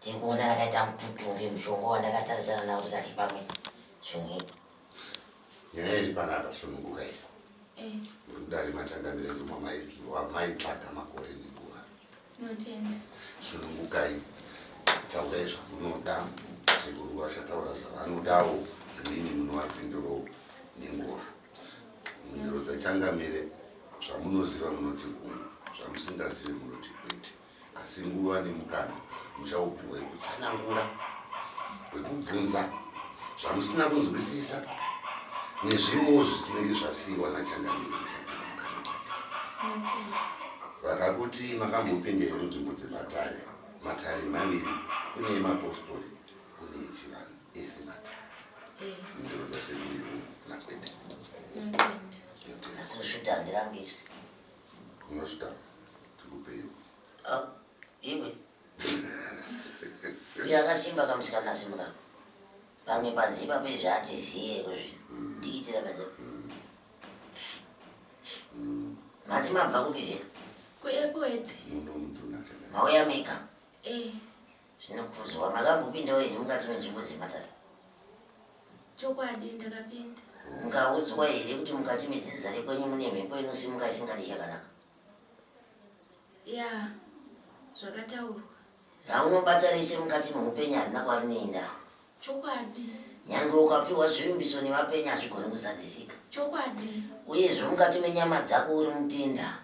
Tiri kuona rakaita mututu uri mushonga wandakatarisana nawo tikati pamwe zvimwe. Nyaya iri panapa sununguka iri. Eh. Muri kudari matanga mirenje wamaitsvaga makore nenguva. Notenda. Sunungukai. Taurai zvamunoda. Sekuru vachataura zvavanodawo zvimweni munovapindurawo nenguva. Mhinduro dzachangamire zvamunoziva munoti uyu zvamusingazivi munoti kwete. Asi nguva nemukana muchaupiwa wekutsanangura, wekubvunza zvamusina kunzwisisa nezvimwewo zvisinenge zvasiiwa nachangamire muchapinda mukana wacho. Vakakuti makambopinda here munzvimbo dzematare? Matare maviri, kune emapostori, kune echivanhu, ese matare. Ndinoda sekuiwo nakwete. Asi kushuta handirambidzwe. Unozvitanga tikupeiwo. Oh, iwe. Iyo akasimba kamusikana simba ka. Pamwe panze ipapo izvi hatiziye kuzvi. Ndiitira panze. Mati mabva kupi zve? Kuepwete. Mauya mega. Eh. Zvinokurudzirwa maka mbopindawo here mukati menzvimbo dzematare? Chokwadi ndakapinda. Mukaudzwa here kuti mukati mezinza rekwenyu mune mhepo inosimuka isingadi chakanaka? Ya, zvakataurwa. Raunobata rese mukati meupenyu harina kwarineinda. Chokwadi. Nyangwe ukapiwa zvivimbiso nevapenyu hazvigoni kuzadzisika. Chokwadi. Uyezve mukati menyama dzako uri mutinda.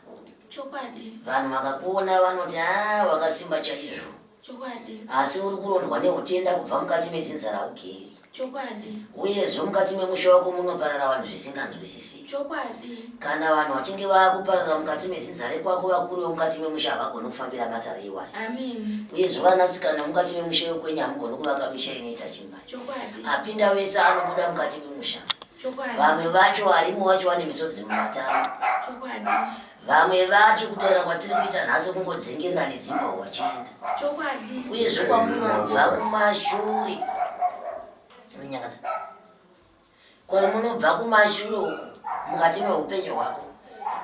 Chokwadi. Vanhu vakakuona vanoti aa wakasimba chaizvo. Chokwadi. Asi uri kurondwa neutenda kubva mukati medzinza raugeri. Chokwadi. Uyezve mukati memusha wako munoparara vanhu zvisinganzwisisiki. Chokwadi. Kana vanhu vachinge vava kupararira mukati mezinza rekwako, vakuru vemukati memusha havagoni kufambira matare iwayo. Ameni. Uyezve vanasikana vemukati memusha yokwenyu hamugoni kuvaka misha inoita chimba. Chokwadi. Apinda vese anobuda mukati memusha. Chokwadi. Vamwe vacho varimo vacho vane misodzi mumatama. Chokwadi. Vamwe vacho kutaura kwatiri kuita nhasi kungodzengerera nedzimba wachienda. Chokwadi. Uyezve kwamunobva kumashure. Unonyangadza. Ko munobva kumashure uko mukati mehupenyu hwako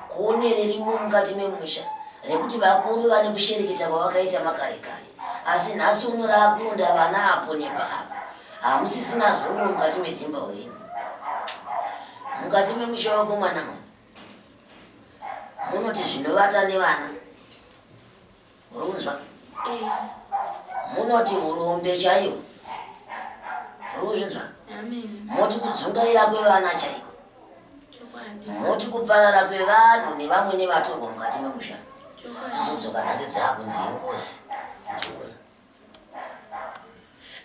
kune ririmo mukati memusha rekuti vakuru vane kushereketa kwavakaita makare kare asi nhasi uno raakurunda vana apo nepaapo hamusisina zororo mukati medzimba urino mukati memusha wako mwana munoti zvinovata nevana Murunzwa? Eh. Munoti hurombe chaiyo. Murunzwa? Amen. Moti kudzungaira kwevana chaiko. Chokwadi. Moti kuparara kwevanhu nevamwe nevatorwa mukati memusha. Chokwadi. Tizodzoka nhasi dzakunzi ingozi.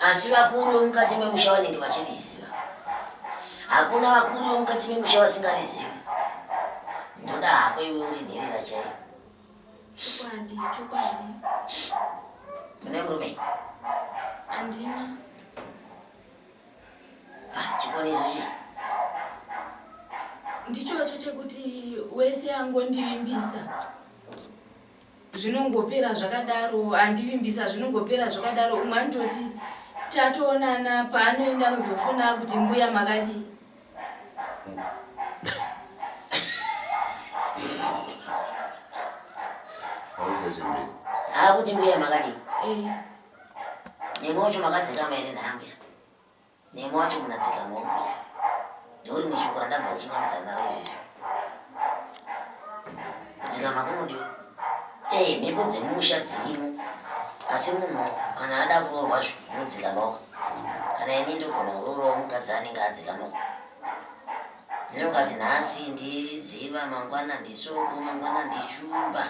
Asi vakuru vemukati memusha vanenge vachiriziva. Hakuna vakuru vemukati memusha vasingarizivi. Ndoda hako iwe uri nherera chaiyo. Chokwadi, chokwadi. Une murume? Andina. Ah, chikonezi chii? Ndichocho chekuti wese angondivimbisa zvinongopera zvakadaro andivimbisa zvinongopera zvakadaro umwe anototi tatoonana paanoenda anozofona kuti mbuya makadii akuti mbuya makadii eh. nemi wacho makadzikama here naambuya nemi wacho munadzika mombe ndouri mushoko randabva uchingamudza naro izvezvo kudzikama kunodiwa ee eh, mhepo dzemusha dzirimo asi munhu kana ada kuroorwa zvo unodzikamawo kana ini ndogona kurorawo mukadzi anenge adzikama ndinokati nhasi ndidziva mangwana ndisoko mangwana ndichumba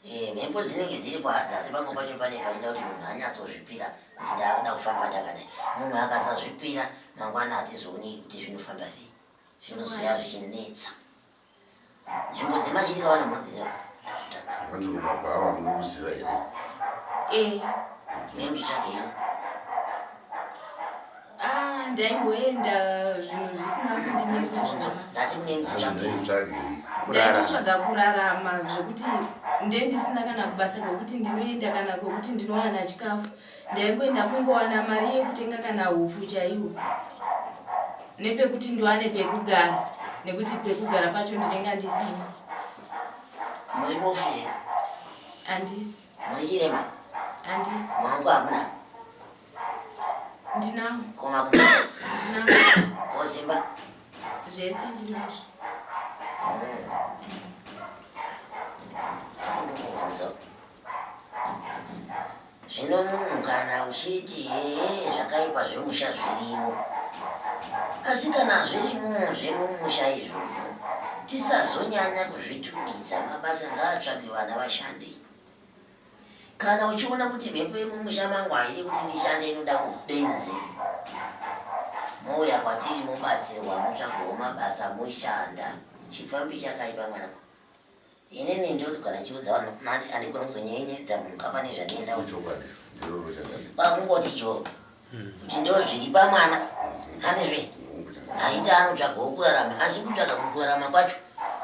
eh, mhepo dzinenge dziri kwadza asi pamwe pacho pane paida kuti munhu anyatsozvipira kuti ndaakuda kufamba ndakadai munhu akasazvipira mangwana hatizoonei kuti zvinofamba sei zvinozoya zvichinetsa Nzvimbo dzemachitika vanomudziva. Vanzi kumabhawa munomuziva here? Eh, nemitsvake iyo. Ah, ndaimboenda zvinhu zvisina kundimirira. Ndati mune mitsvake. Ndaimutsvage. Ndaitotsvaga kurarama zvekuti ndendisina kana basa kwekuti ndinoenda kana kwekuti ndinowana chikafu. ndaingoenda kungowana mari yekutenga kana hupfu chaiwo nepekuti ndiwane pekugara nekuti pekugara pacho ndinenge andisina muibofira andisi muichirema andisi wangu hamuna ndinawo koma ndinawo ozimba zvese ndinazvo Zvino munhu kana uchiti ee zvakaipa zvemusha zvirimo asi kana zvirimo zvemumusha izvozvo tisazonyanya kuzvitumidza mabasa ngaatsvage vana vashande kana uchiona kuti mhepo yemumusha mangu haidi kuti ndishande inoda kubenzi mouya kwatiri mobatsirwa motsvagawo mabasa moshanda chipfambi chakaipa mwanangu Inini ndiri kuti kana ndichiudza vanhu mari handigoni kuzonyenyenyedza munhu ka pane zvandienda Ichokwadi, ndiroro chakadi. kwakungoti jo kuti ndo zviri pamwana hanizve Hungu chakadi. aita anotsvagawo kurarama asi kutsvaga mukurarama kwacho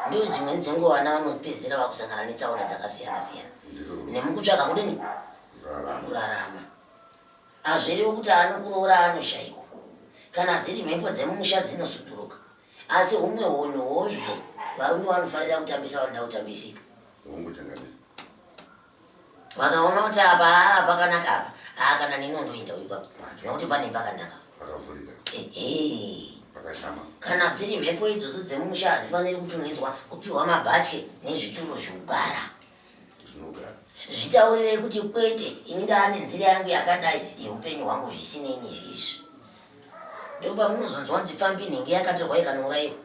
ndiyo dzimweni dzenguva vana vanopedzisira vakusangana netsaona dzakasiyana siyana Ndiroro nemukutsvaga kudini kurarama. kurarama hazviriwo kuti anokuroora anoshaikwa kana dziri mhepo dzemumusha dzinosuduruka Asi humwe hunhu hozve varume vanofarira kutambisa vanoda kutambisika. Hongu changamire. Vakaona kuti apa haa pakanaka apa. Haa kana nini undoenda uyu papa. Nokuti pane pakanaka. Pakavhurika. Ehe. Pakashama. Kana dziri mhepo idzodzo dzemumusha hadzifaniri kutumidzwa kupiwa mabhatye nezvituro zvokugara. zvitaurirei kuti kwete ini ndaane nzira yangu yakadai yeupenyu hwangu zvisinei nezvizvi ndopamunozonzwa kunzi pfambi nhingi yakatorwa ikanouraiwa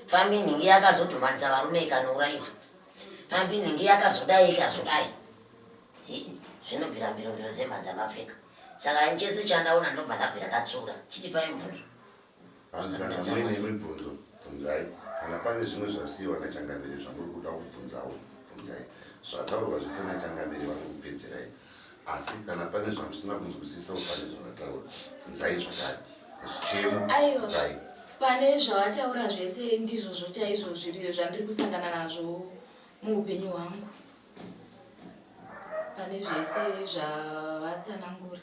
pfambi nhingi yakazodhumanisa varume ikanouraiwa pfambi nhingi yakazodai ikazodai zvinobvira mbirombiro dzemhadzamapfeka saka ini chese chandaona ndobva ndabvira ndatsura chitipai mubvunzo Hanzi kana muine mibvunzo bvunzai, kana pane zvimwe zvasiiwa naChangamire zvamuri kuda kubvunzawo bvunzai. Zvataurwa zvese naChangamire vari kupedzerai, asi kana pane zvamusina kunzwisisawo pane zvavataura bvunzai zvakare. Zvichemo Aiwa, dai pane zvawataura zvese ndizvozvo chaizvo zviri zvandiri kusangana nazvo muupenyu hwangu, pane zvese zvawatsanangura.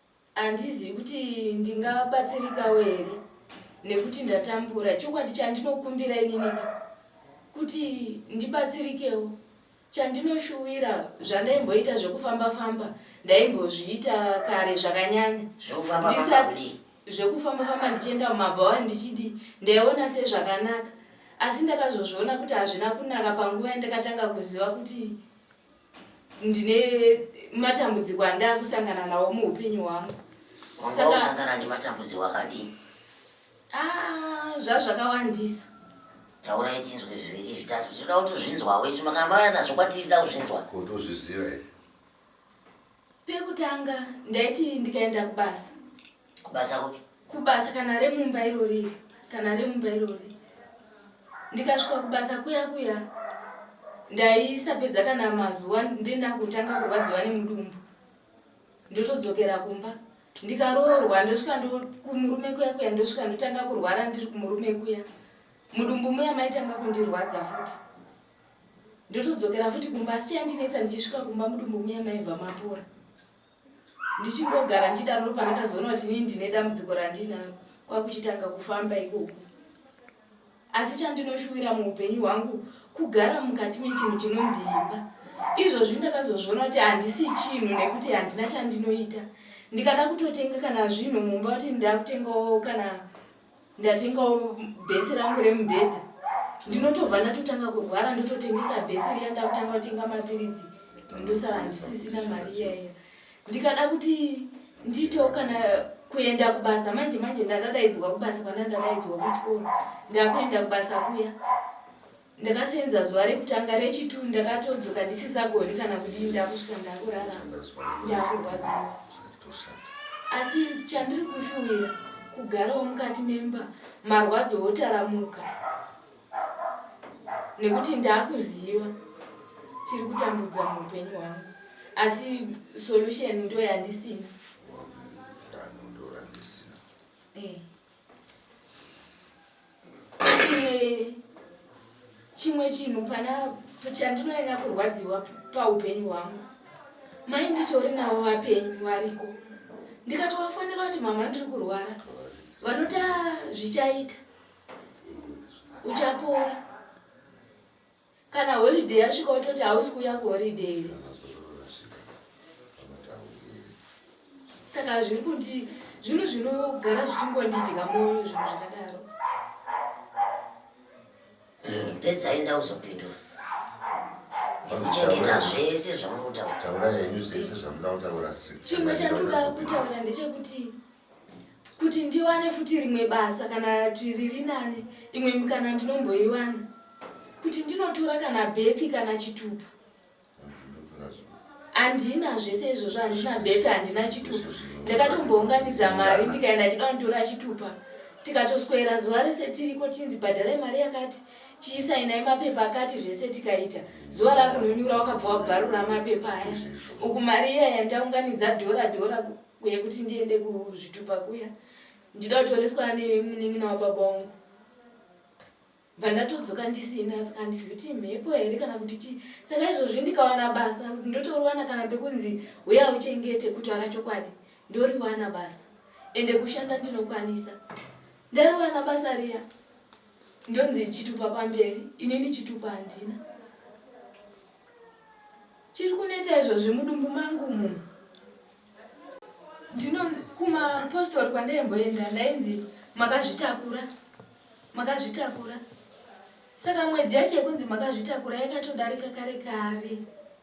Handizivi kuti ndingabatsirikawo here nekuti ndatambura. Chokwadi chandinokumbira inini ka kuti ndibatsirikewo. Chandinoshuwira zvandaimboita zvekufamba famba ndaimbozviita kare zvakanyanya. Zvekufamba famba Ndisati kudii? zvekufamba famba ndichienda mumabhawa ndichidii ndaiona sezvakanaka asi ndakazozviona kuti hazvina kunaka panguva yandakatanga kuziva kuti ndine matambudziko andaa kusangana nawo muupenyu hwangu sakausangana nematambudziko akadii ah, zvazvakawandisa taurai tinzwe zviviri zvitatu tinoda kutozvinzwa wese makambavana zvokwatizida kuzvinzwa kutozviziva here pekutanga ndaiti ndikaenda kubasa Kubasa kupi? Kubasa kana remumba iro riri kana remumba iro riri. Ndikasvika kubasa kuya kuya ndaisapedza kana mazuva ndenda kutanga kurwadziwa nemudumbu ndotodzokera kumba ndikaroorwa ndosvika kumurume kuya kuya ndosvika ndotanga kurwara ndiri kumurume kuya mudumbu muya maitanga kundirwadza futi ndotodzokera futi kumba asi chandinetsa ndichisvika kumba mudumbu muya maibva mapora ndichingogara ndichidaro ndopandakazoona kuti inini ndine dambudziko randinaro kwakuchitanga kufamba ikoku asi chandinoshuwira muupenyu hwangu kugara mukati mechinhu chinonzi imba izvozvi ndakazozviona kuti handisi chinhu nekuti handina chandinoita ndikada kutotenga kana zvinhu mumba kuti ndakutengawo kana ndatengawo bhesi rangu remubhedha ndinotobva ndatotanga kurwara ndototengesa bhesi riya ndakutanga kutenga mapiritsi ndosara ndisisina mari iyaiya ndikada kuti ndiitewo kana kuenda kubasa manje manje ndadadaidzwa kubasa kwana ndadaidzwa kuchikoro ndakuenda kubasa kuya Ndakaseenza zuva rekutanga rechitu ndakatodzoka ndisisagoni kana kudii ndakusvika ndakurara ndakurwadziwa asi chandiri kushuwira kugarawo mukati memba marwadzo otaramuka nekuti ndakuziva chiri kutambudza muupenyu hwangu asi solution ndoyandisina eh. chimwe chinhu pana chandinonyanya kurwadziwa paupenyu hwangu mai nditori navo vapenyu variko ndikatovafonera kuti mama ndiri kurwara vanota zvichaita uchapora Kana holiday yasvika wototi hausi kuuya kuholiday here? Saka zviri kundi zvinhu zvinogara zvichingondidya moyo zvinhu zvakadaro. Mm, pedzai ndauzopindura kuchengeta zvese zvamuri kutaura chimwe chandinoda kutaura ndechekuti Kuti ndiwane futi rimwe basa kana twi riri nani imwe mikana ndinomboiwana. Kuti ndinotora kana birth kana chitupa. Handina zvese izvozvo handina birth handina chitupa. Ndakatombounganidza mari ndikaenda ndichida kunditora chitupa. Tikatoswera zuva rese tiriko tinzi bhadharai mari yakati chiisainai mapepa akati zvese tikaita zuva rakunonyura wakabva wabvarura mapepa aya uku mari iya yandaunganidza dhora dhora Uye kuti ndiende kuzvitupa kuya ndida kutoreswa nemunin'ina wababa wangu bva ndatodzoka ndisina saka handisi kuti mhepo here kana kuti chii saka izvozvi ndikawana basa kuti ndotorowana kana pekunzi huya uchengete kutaura chokwadi ndoriwana basa ende kushanda ndinokwanisa ndariwana basa riya ndonzi chitupa pamberi inini chitupa handina chiri kunetsa izvozvi mudumbu mangu munhu Ndino kumapostori kwandaimboenda ndainzi makazvitakura, makazvitakura. Saka mwedzi yacho yekunzi makazvitakura yakatodarika kare kare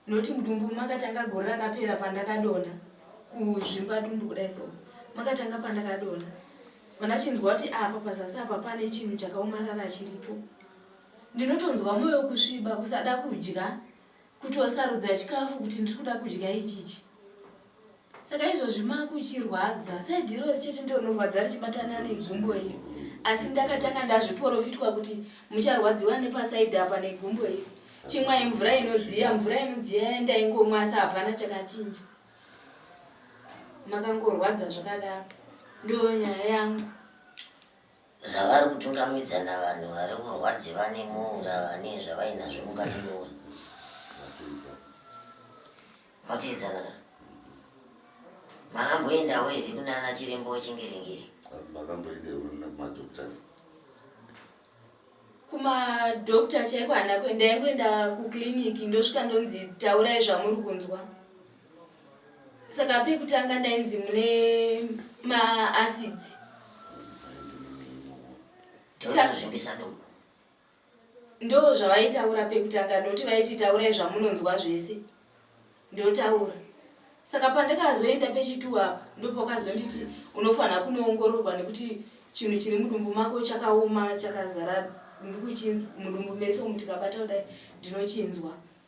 noti mudumbu makatanga gore rakapera pandakadona kuzvimba dumbu kudai so makatanga pandakadona vandachinzwa kuti apa ah, pazasi apa pane chinhu chakaomarara chiripo ndinotonzwa mwoyo kusviba kusada kudya Kuti wasarudza chikafu kuti ndiri kuda kudya ichichi. Saka izvozvi makuchirwadza said irori chete ndiro rinorwadza richibatana negumbo iri. Asi ndakatanga ndazviporofitwa kuti mucharwadziwa nepasaid apa negumbo iri. Chimwai mvura inodziya, mvura inodziya yandaingomwa asi hapana chakachinja. Makangorwadza zvakadaro. Ndiyo nyaya yangu. Zvavari kutungamidza navanhu vari kurwadzi vane muura vane zvavainazvo mukati moura. Matiidzana ka. Makamboendawo here kuna ana chirembo wechingiringiri? Makamboendewo kuna madoctors? Kumadoctor chaiko handina kuenda ndaingoenda kuclinic ndosvika ndonzi taurai zvamuri kunzwa. saka pekutanga ndainzi mune maacids ndo zvavaitaura pekutanga ndoti vaiti taurai zvamunonzwa zvese ndotaura saka pandakazoenda pechituwa apa ndopakazonditi unofanira kunoongororwa nekuti chinhu chiri mudumbu mako chakaoma chakazara ndikuchinzwa mudumbu mese umu tikabata kudai ndinochinzwa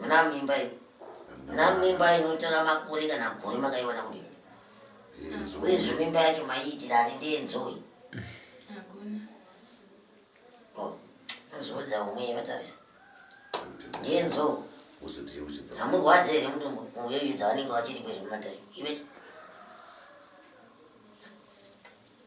muna mimba iyo muna mimba inotora makore kana gore makaiwana kudii uyezve mimba yacho maiitira ani ndiye nzoi nzoudza oh, umwe vatarisa ndiye nzoo hamurwadze here mudumbu muyoyudza vanenge vachiri kweri mumatari ive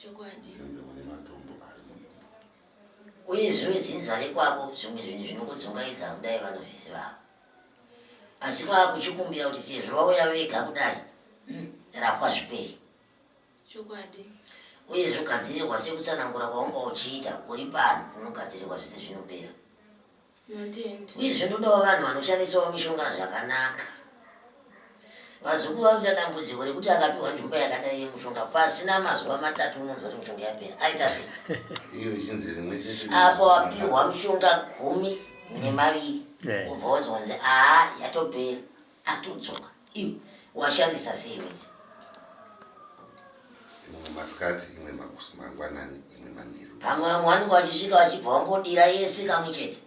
chokwadi Zvinonzi mune matombo ari muimba. Uye zviwe zinza rekwako zvimwe zvinhu zvinokudzungaidza kudai vanozviziva ava. Asi vakuchikumbira kuti sezvo vauya vega kudai umm rapwa zvipere. chokwadi Uye zvogadzirirwa sekutsanangura kwaunga uchiita uri pano unogadzirirwa zvese zvinopera. Uyezve ndodawo vanhu vanoshandisawo mishonga zvakanaka. Vazukuru vari kuita dambudziko rekuti akapiwa njuba yakadai yemushonga pasina mazuva matatu unonzwa kuti mishonga yapera. Aita sei? Iyo ichinzi rimwe chete. Apo wapiwa mishonga gumi nemaviri ubva wonzwanzi aa yatopera atodzoka iwe washandisa sei wese imwe masikati imwe mangwanani imwe manheru pamwe vamwe vanenge vachisvika vachibva vangodira yese kamwe chete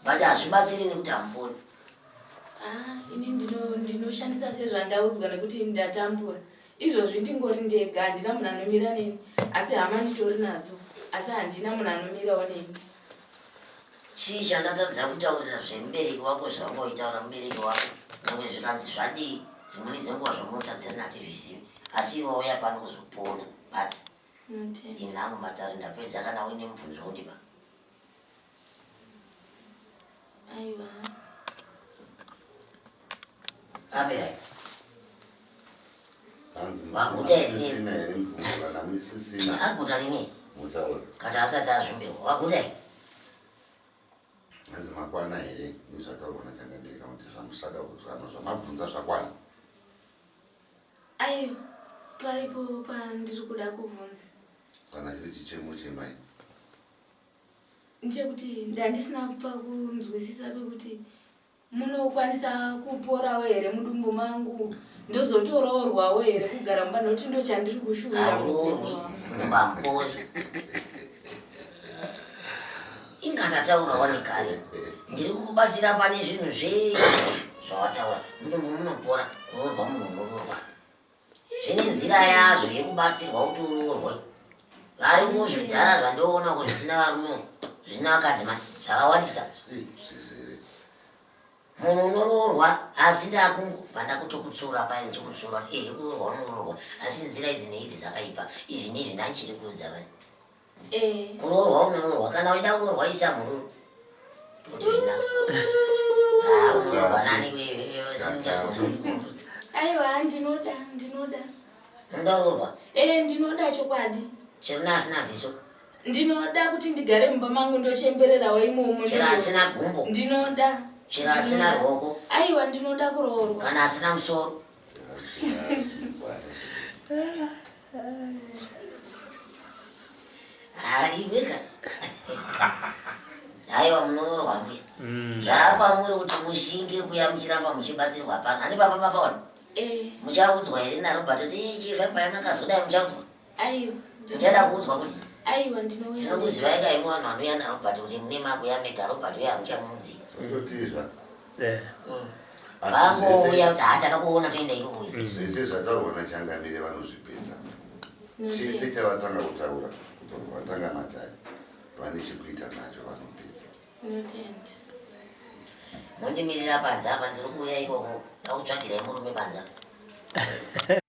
but hazvibatsiri nekuti hamuponi ah, ini ndinoshandisa sezvandaudzwa nekuti ndatambura izvozvi ndingori ndega handina munhu anomira neni asi hama nditori nadzo asi handina munhu anomirawo neni Chii chandatadza kutaurira zvemubereki wako zvawanga uchitaura mubereki wako nyangwe zvikanzi zvadii dzimweni dzenguva zvamunotadzirana hatizvizivi asi iwe wauya pano kuzopona basi inhangu matare ndapedza kana uine mubvunzo undipa aiwa apera aguta rini kati asati azvimbirwa waguta i hanzi makwana here nezvataurwa nachangabereka kuti zvamusada kuzvano zvamabvunza zvakwana ai paripo pandiri kuda kubvunza kana chiri chichemo chemai ndechekuti ndandisina pakunzwisisa pekuti Munokwanisa kuporawo here mudumbu mangu ndozotoroorwawo here kugara mumba nokuti ndochandiri kushuvira muroorwi mamboyi inga ndataura wani kare ndiri kukubatsira pane zvinhu zvese zvawataura mudumbu munopora kuroorwa munhu unororwa Zvine nzira yazvo yekubatsirwa kuti uroorwe. Vari muzvidhara zvandoona kuti zvisina varume zvisina vakadzi mani zvakawandisa. Munhu unoroorwa asi ndakungobva ndakutokutsura paye ndichikutsura kuti ehe kuroorwa unoroorwa asi nzira idzi neidzi dzakaipa izvi neizvi ndandichiri kuudza vani. Kuroorwa unoroorwa kana uida kuroorwa isa mhururu. Aiwa ndinoda ndinoda. Ndoroorwa. Eh ndinoda chokwadi. Chero asina ziso. Ndinoda kuti ndigare mumba mangu ndochembererawo imomo. Chero asina gumbo. Ndinoda. Chero asina ruoko. Aiwa ndinoda kuroorwa. Kana asina musoro. Haibika. Haiwa munonorwa mbuya. Mm. Zvakwamuri kuti mushinge kuya muchiramba muchibatsirwa pano. Ani baba makaona. Eh. Muchaudzwa here naRobert kuti eh chivha paya makazodai muchaudzwa. Aiwa. Ndichada kuudzwa kuti. Aiwa ndinouya. Ndinokuzivai kai mwana wanouya naRobert kuti mune makuya mega Robert uya hamuchamuudzi. Zvinotiza. Eh. Mm. Vangouya kuti hataka kuona toenda irubuya. Mm. Zvese zvataurwa naChangamire vanozvipedza. Chese chavatanga kutaura kubva kuvatanga matari vane chekuita nacho vanopedza. Notenda. Mondimirira panze apa ndiri kuuya ikoko. Ndakutsvagirai murume panze apa.